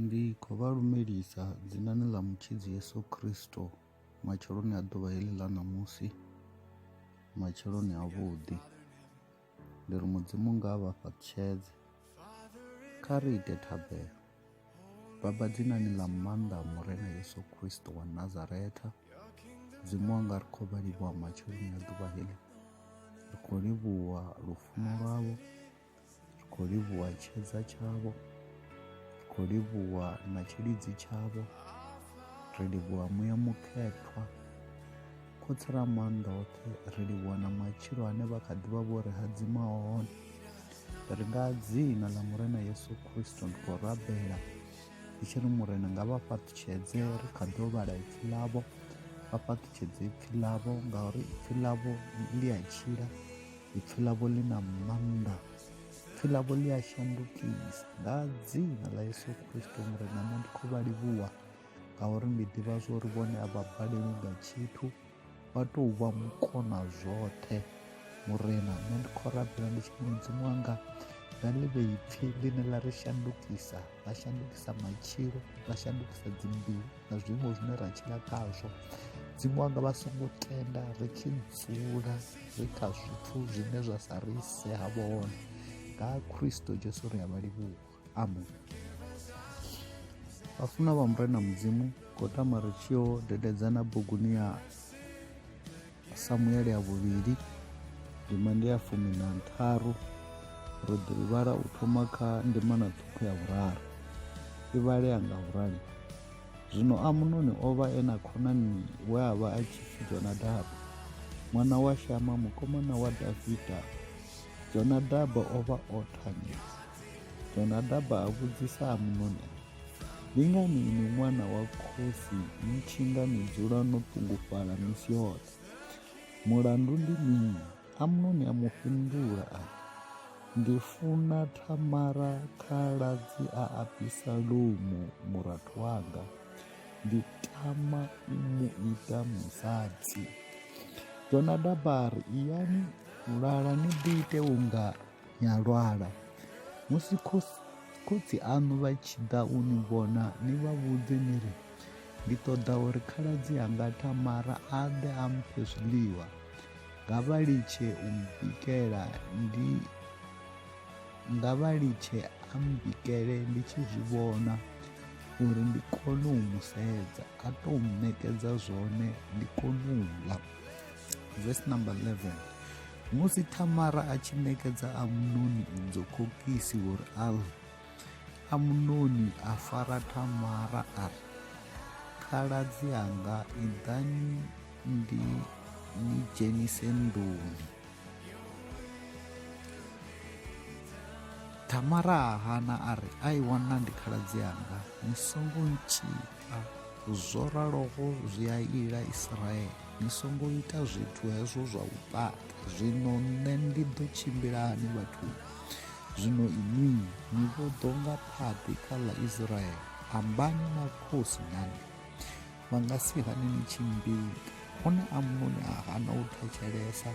Ndi khou vha lumelisa dzinani ḽa Mutshidzi Yesu Kristo matsheloni a ḓuvha heḽi ḽa ṋamusi, matsheloni a vhuḓi. Ndi ri Mudzimu nga vha fhaṱutshedze. Kha ri ite thabelo. Baba dzinani ḽa maanḓa a Murena Yesu Kristo wa Nazaretha, Mudzimu wanga ri khou vha livhuwa matsheloni a ḓuvha heḽi. Ri khou livhuwa lufuno lwavho. ri khou livhuwa tshedza tshavho ri khou livhuwa na tshilidzi tshavho ri livhuwa muya mukhethwa khotsi ra maanḓa oṱhe ri livhuwa na matshilo ane vha kha ḓivha vho ri hadzima hone ri nga dzina ḽa murena yesu khristo ndi khou rabela ndi tshi ri murena nga vha fhaṱutshedze ri kha ḓo vhala ipfi ḽavho vha fhaṱutshedze ipfi ḽavho ngauri ipfi ḽavho ḽi a tshila ipfi ḽavho ḽi na maanḓa ipfi ḽavho ḽi a shandukisa nga dzina ḽa yesu kristo murena nṋe ndi khou vha livhuwa ngauri ndi ḓivha zwo ri vhone a vha balelwi nga tshithu vha tou vha mukona zwoṱhe murena nṋe ndi khou rabela ndi tshini mudzimu wanga na ḽi vhe ipfi ḽine ḽa ri shandukisa ḽa shandukisa matshilo ḽa shandukisa dzimbilu na zwiimo zwine ra tshila khazwo dzimu wanga vha songo tenda ri tshi dzula ri kha zwithu zwine zwa sa ri ise ha vhone nga khristo jesu ri a vha livhuwa amen vhafuna vha murena mudzimu khou tama ri tshi yo dededzana buguni ya samuele ya vhuvhili ndima ndi ya fumi na ntharu ro ḓo i vhala u thoma kha ndima na ṱhukhu ya vhuraru i vhalea nga vhurali Zwino Amunoni o vha e na khonani we a vha a tshi pfi Jonadabu, ṅwana wa Shama mukomana wa Davida. Jonadaba o vha o thanya. Jonadaba a vhudzisa Amunoni a ri, Ndi ngani inwi ṅwana wa khosi ni tshi nga ni dzula no ṱungufhala misi yoṱhe? Mulandu ndi mini? Amnoni a mu fhindula a ri, Ndi funa Thamara khaladzi a Abisalomu murathu wanga, ndi tama u mu ita musadzi. Jonadaba a ri, Iyani u lala ni ḓi ite unga ni a lwala. Musi khotsi aṋu vha tshi ḓa u ni vhona, ni vha vhudze ni ri, Ndi ṱoḓa uri khaladzi anga Thamara a ḓe a mphe zwiḽiwa. nga vha litshe u mbikela ndi nga vha litshe a mbikele ndi tshi zwi vhona uri ndi kone u mu sedza a to ṋekedza zwone ndi kone u ḽa verse number 11 musi thamara a tshi ṋekedza amunoni idzo khokisi uri a ḽe amunoni a fara thamara a ri khaladzi anga iḓani ndi ni dzhenise nḓuni tamara a hana a ri a i wana ndi khaladzi anga ni songo ntshipa zwo raloho zwi a ila israele ni songo ita zwithu hezwo zwa u pata zwino nṋe ndi ḓo tshimbila hani vhathu zwino inwi ni vho ḓo nga phaḓi kha ḽa israele ambani na khosi nani vha nga si hane ni tshi mmbila o ne amunoni a hana u thetshelesa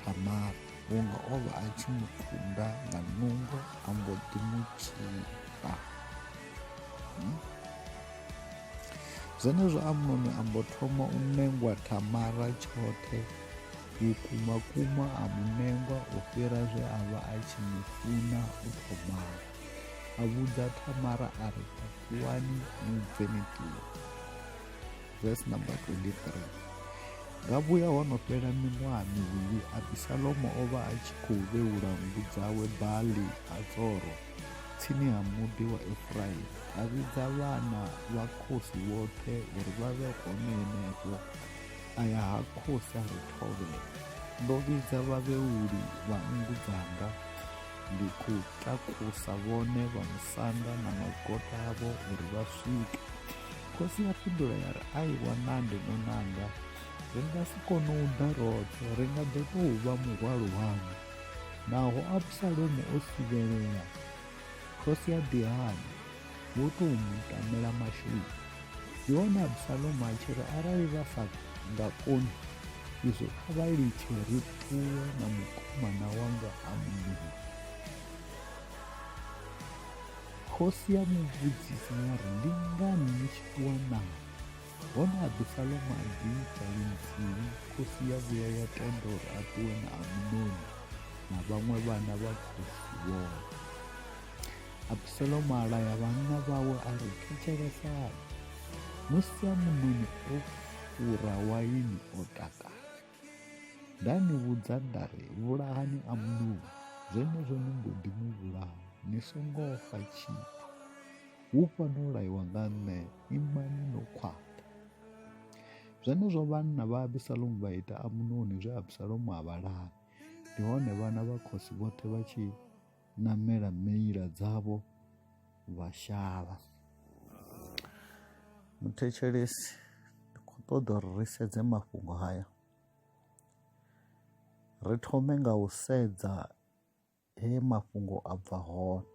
thamara vhunga o vha a tshi mu kunda nga nungo a mbo ḓi mu tshipa hmm? zwenezwo amunoni a mbo thoma u nengwa thamara tshoṱhe vhukuma kuma a mu nengwa u fhira zwe a vha a tshi mu funa u thomao a vhudza tamara a ri takuwani ni bve ni ṱuwe verse number 23 nga vhuya ho no fhela miṅwaha mivhili abisalomo o vha a tshi khou vheula nngu dzawe bali ha tsoro tsini ha muḓi wa efuraimi a vhidza vhana vha khosi vhoṱhe uri vha vhe hone henefho a ya ha khosi a ri thovhela ndo vhidza vhavheuli vha nngu dzanga Ndi khou takusa vhone vha musanda na magota avho uri vha swike. Khosi ya fhindula ya ri, Ai wanandi munanga, ri nga si kone u ḓa roṱhe, ri nga ḓo tou vha muhwalo waṋu. Naho Absalomo o sivhelea, khosi ya ḓi hana. vho tou mu tamela masheleni ndi hone absalomo a tshi ri arali vha sa nga koni izwo kha vha litshe ri ṱuwe na mukomana wanga ha muvhili khosi ya mu vhudzisa ya ri ndi ngani ni tshi ṱuwa nawo hone absalomo a ḓi ita linthihi khosi ya vhuya ya tenda uri a ṱuwe na amunoni na vhaṅwe vhana vha khosi vhoṱhe abusalomu a laya vhanna vhawe a ri thetshelesani musi a munoni o fura waini o takala nda ni vhudza nda ri vhulahani a munoni zwenezwo ni mbo ḓi mu vhulaha ni songo fa tshithu hu fano laiwa nga nṋe imani no khwaṱha zwenezwo vhanna vha abisalomu vha ita amunoni zwe abisalomu a vha lavi ndi hone vhana vha khosi vhoṱhe vha tshi namela meila dzavho vha shavha muthetshelesi ndi khou ṱoḓa uri ri sedze mafhungo haya ri thome nga u sedza he mafhungo a bva hone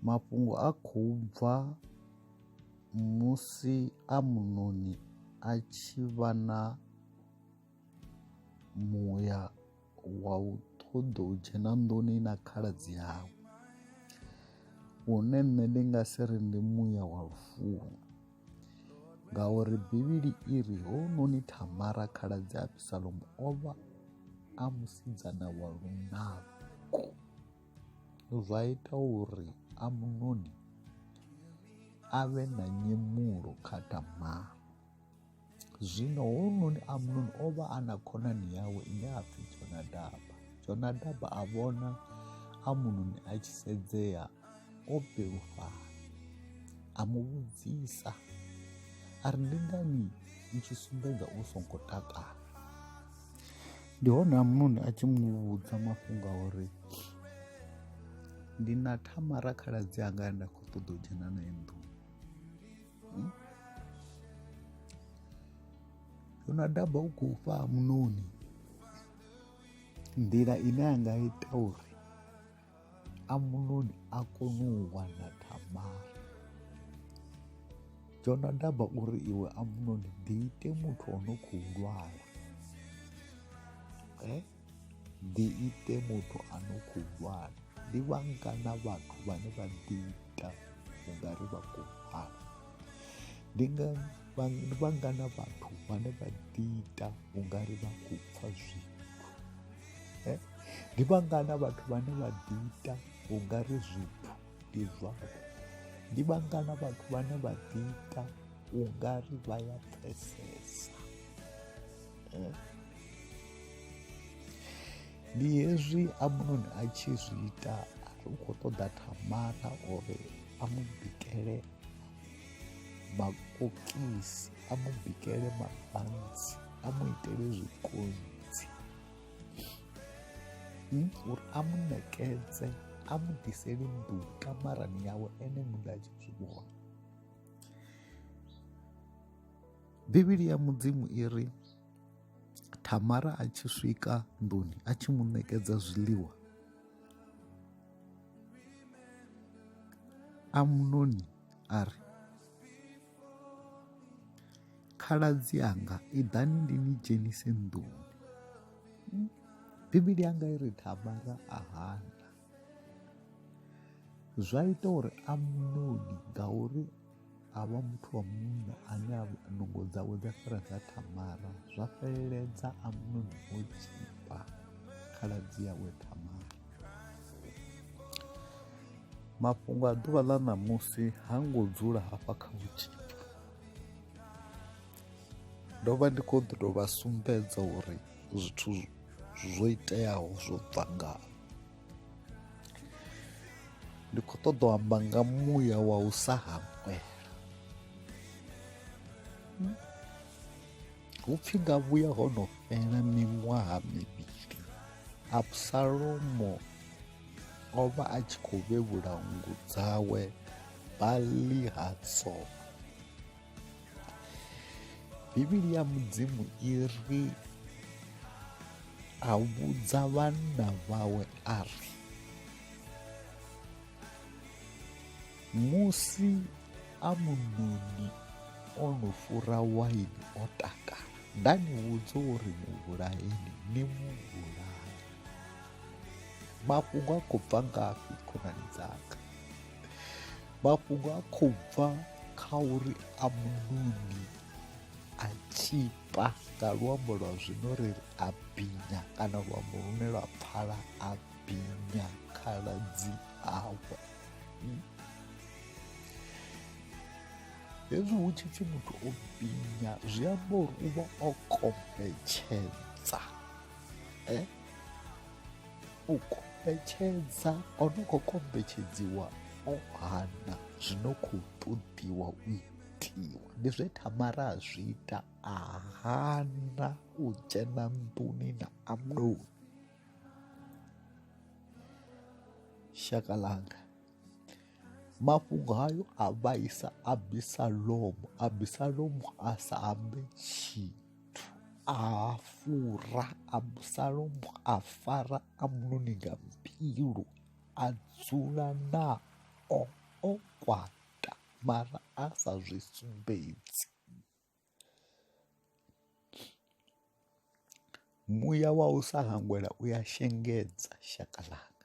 mafhungo a khou bva musi amunoni a tshi vha na muya wa u ṱoḓa u dzhena nḓuni na khaladzi yawe une nṋe ndi nga si ri ndi muya wa lufuno ngauri bivhili i ri hounoni thamara khaladzi abisalomo o vha a musidzana wa lunako zwa ita uri amunoni a vhe na nyemulo kha tamara Zwino hounoni Amnoni o vha a na khonani yawe ine a pfi Jonadaba. Jonadaba a vhona Amnoni a tshi sedzea o belufhala, a mu vhudzisa a ri ndi ngani u tshi sumbedza u songo takala. Ndi hone Amnoni a tshi mu vhudza mafhungo a uri ndi na Thamara khaladzi anga nda khou ṱoḓa u dzhena nae nḓuni. hmm? unadaba u khou fha munoni nḓila ine a nga ita uri amunoni a kone u wana tamara jonadaba uri iwe amunoni ḓiite muthu o no khou lwala eh? ḓiite muthu a no khou lwala ndi vhangana vhathu vhane vha ḓiita u nga ri vha khou lwala ndi nga vhangana vhathu vhane vha ḓiita u nga ri vha khou pfha zwithu eh? ndi vhangana vhathu vhane vha ḓiita u nga ri zwithu ndi zwavho ndi vhangana vhathu vhane vha ḓiita u nga ri vha ya pfesesa eh. ndi hezwi amunoni a tshi zwi ita u khou ṱoḓa thamara uri a mu bikele makokisi a mu bikele mabantsi a mu itele zwikonzi hmm? uri a mu nekedze a mu ḓiseli nḓu kamarani yawe ene muṋe a tshi zwi vhona Bivhili ya Mudzimu i ri Thamara a tshi swika nḓuni a tshi mu ṋekedza zwiḽiwa Amnoni a ri khaladzi anga i ḓani ndi ni dzhenise nḓuni Bivhili yanga i ri Thamara a hana zwa ita uri amunoni ngauri a vha muthu wa munna ane nungo dzawe dza fhira dza thamara zwa fheleledza amunoni o tshipa khaladzi yawe thamara mafhungo a ḓuvha ḽa ṋamusi ha ngo dzula hafha kha u tshipa ndo vha ndi khou ḓo tou vha sumbedza uri zwithu zwo iteaho zwo bva nga ndi khou ṱoḓa u amba nga muya wa u sa hangwela hu pfhi nga vhuya ho no fhela miṅwaha mivhili absalomo o vha a tshi khou vhevhula nngu dzawe bali hatsoo bivhili ya mudzimu i ri a vhudza vhanna vhawe a ri musi amunoni o no fura waini o takala nda ni vhudza uri muvhulaeni ni muvhulae mafhungo a khou bva ngafhi khonani dzanga mafhungo a khou bva kha uri amunoni a tshipa nga luambo lwa zwino ri ri a binya kana luambo lune lwa pfala a binya khaladzi awe hezwi hu tshi pfhi muthu o binya zwi amba uri u vha o kombetshedza eh? u kombetshedza o no khou kombetshedziwa o hana zwi no khou ṱoḓiwa u itiwa ndi zwe tamara a zwi ita a hana u dzhena nḓuni na amnoni shaka langa mafhungo hayo a vhaisa abisalomo abisalomo a sa ambe tshii a fura absalomo a fara amnoni nga mbilu a dzula nao o kwata mara a sa zwi sumbedzi muya wa u sa hangwela u ya shengedza shaka ḽanga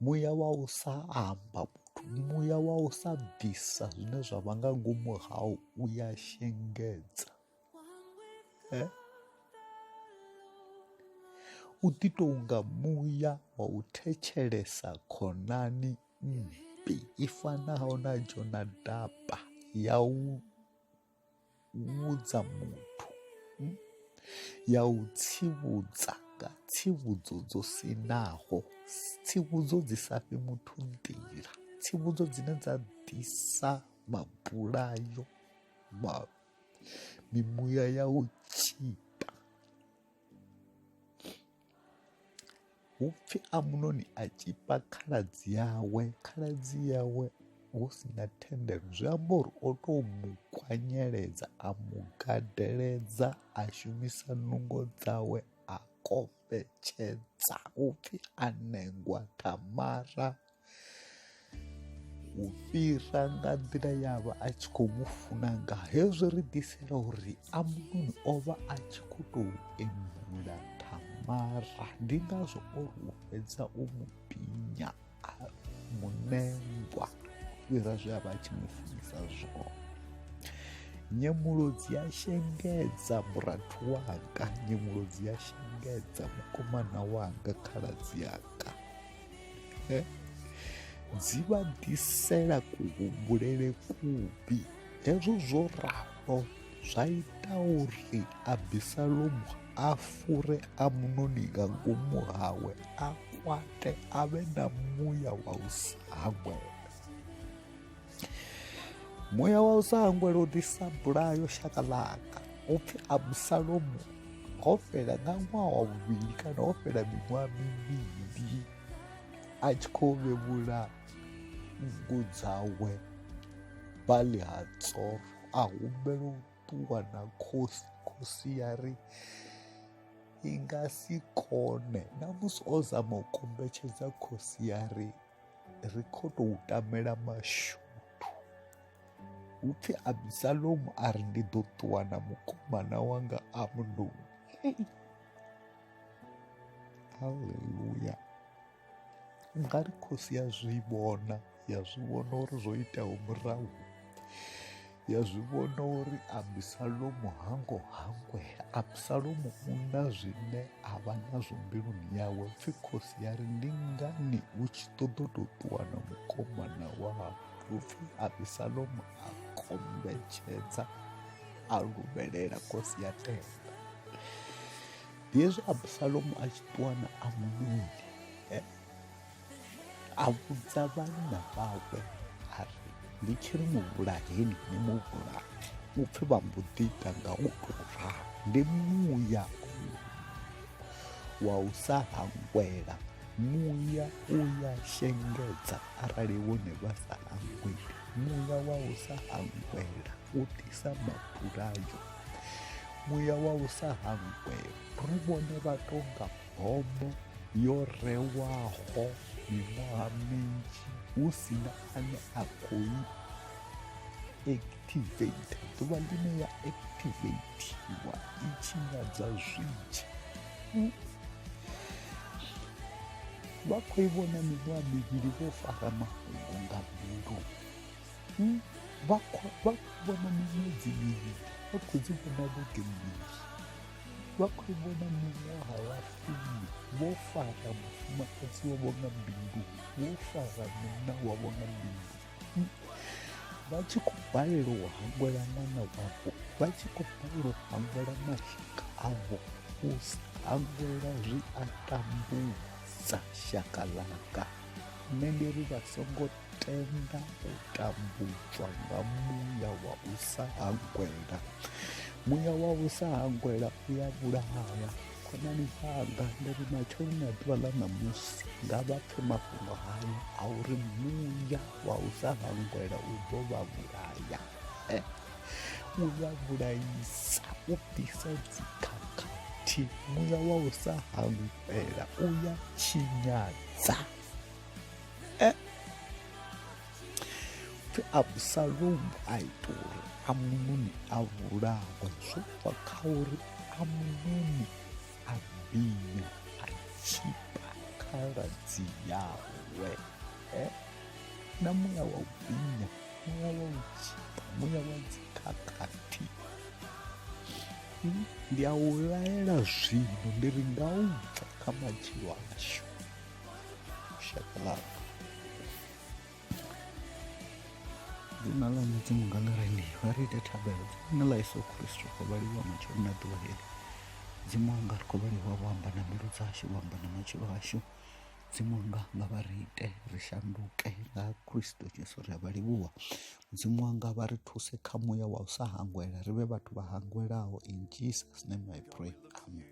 Muya wa u sa amba muthu, muya wa u sa bvisa zwine zwa vha nga ngomu hau u ya shengedza u ḓi tou nga muya wa u thetshelesa khonani mmbi i fanaho na Jonadaba ya u vhudza muthu hmm? ya u tsivhudza nga tsivhudzo dzo sinaho tsivhudzo dzi sa fhi muthu nḓila tsivhudzo dzine dza ḓisa mabulayo ma mimuya ya u tshita Hupfi Amunoni a tshipa khaladzi yawe, khaladzi yawe hu si na thendelo zwi amba uri o tou mu kwanyeledza a mu gadeledza a shumisa nungo dzawe a kombetshedza upfi a nengwa Tamara u fhira nga nḓila ya vha a tshi khou mu funa nga hezwo ri ḓisela uri amunoni o vha a tshi khou tou embula thamara ndi ngazwo o ri u fhedza u mu pinya a munengwa fhira zwe a vha a tshi mu funisa zwone nyemulodzi ya shengedza murathu wanga nyemulodzi ya shengedza mukomana wanga khaladzi yanga dzi vha ḓisela kuhumbulele kuvhi hezwo zwo ralo zwa ita uri abisalomu a fure amunoni nga ngomu hawe a kwate a vhe na muya wa u sa hangwela muya wa u sa hangwela u ḓisa bulayo shaka ḽanga u pfhi abusalomu ho fhela nga ṅwaha wa vhuvhili kana ho fhela miṅwaha mivhili a tshi khou vhevhula nngu dzawe bali ha tsoro a humbela u ṱuwa na khosi khosi ya ri i nga si kone na musi o zama u kombetshedza khosi ya ri ri khou tou tamela mashuthu hu pfi abisalomu a ri ndi ḓo ṱuwa na mukomana wanga amnoni haleluya nga ri khosi ya zwi vhona ya zwi vhona uri zwo itaho murahu ya zwi vhona uri abisalomu ha ngo hangwela abisalomu u na zwine a vha nazwo mbiluni yawe pfhi khosi ya ri ndi ngani hu tshi ṱoḓo tou ṱuwa na mukomana wau upfhi abisalomu a kombetshedza a luvhelela khosi ya tenda hezwi abisalomu a tshi ṱuwa na amunoni eh? a vhudza vhanna vhawe a ri ndi tshi ri muvhulaheni ni muvhulaha u pfhi vha mbo ḓi ita nga u tou ralo ndi muya wa u sa hangwela muya u ya shengedza arali wone vha sa hangweli muya wa u sa hangwela u ḓisa mabulayo muya wa u sa hangwela ri vhone vha tonga homo yo rewaho miṅwaha minzhi hu si na ane a khou i activate ḓuvha ḽine ya activatiwa i tshinyadza zwinzhi vha khou i vhona miṅwaha mivhili vho fara mafhungo nga mbilu vha khou vhona miṅwedzi mivhili vha khou dzi vhona vhege mbili vha khou vhona miṅwaha ya fumi vho fara mufumakadzi wavho nga bindu vho fara munna wavho nga bindu vha tshi khou balelwa u hangwela ṅwana wavho vha tshi khou balelwa u hangwela mashaka avho u sa hangwela zwi a tambudza shaka ḽanga nṋe ndi ri vha songo tenda u tambudzwa nga muya wa u sa hangwela muya wa u sa hangwela u ya vhulaya khonani dzanga ndi ri matsheloni a ḓuvha ḽa ṋamusi nga vha pfe mafhungo hayo a uri muya wa u sa hangwela u ḓo vha vhulaya eh, u ya vhulaisa u ḓisa dzikhakhathi muya wa u sa hangwela u ya tshinyadza eh? pfi abusalomu a ita uri amunoni a vhulawe zwo bva kha uri amunoni a binya a tshipa khaladzi yawe eh? na muya wa u binya muya wa u tshipa muya wa dzikhakhathi hmm? ndi a u laela zwino ndi ri nga u bva kha matshilo ashu Shut the love. dzina ḽa mudzimu nga ḽi re ndi vha ri ite thabelo dzina ḽa yesu khristo khou vhaliwa matshelo na ḓuvha heli dzimu anga ri khou vhaliwa vho amba na mbilu dzashu vho amba na matshilo ashu dzimu anga nga vha ri ite ri shanduke nga khristo jesu ri a vha livhuwa mudzimu anga vha ri thuse kha muya wa u sa hangwela ri vhe vhathu vha hangwelaho in jesus name i pray amen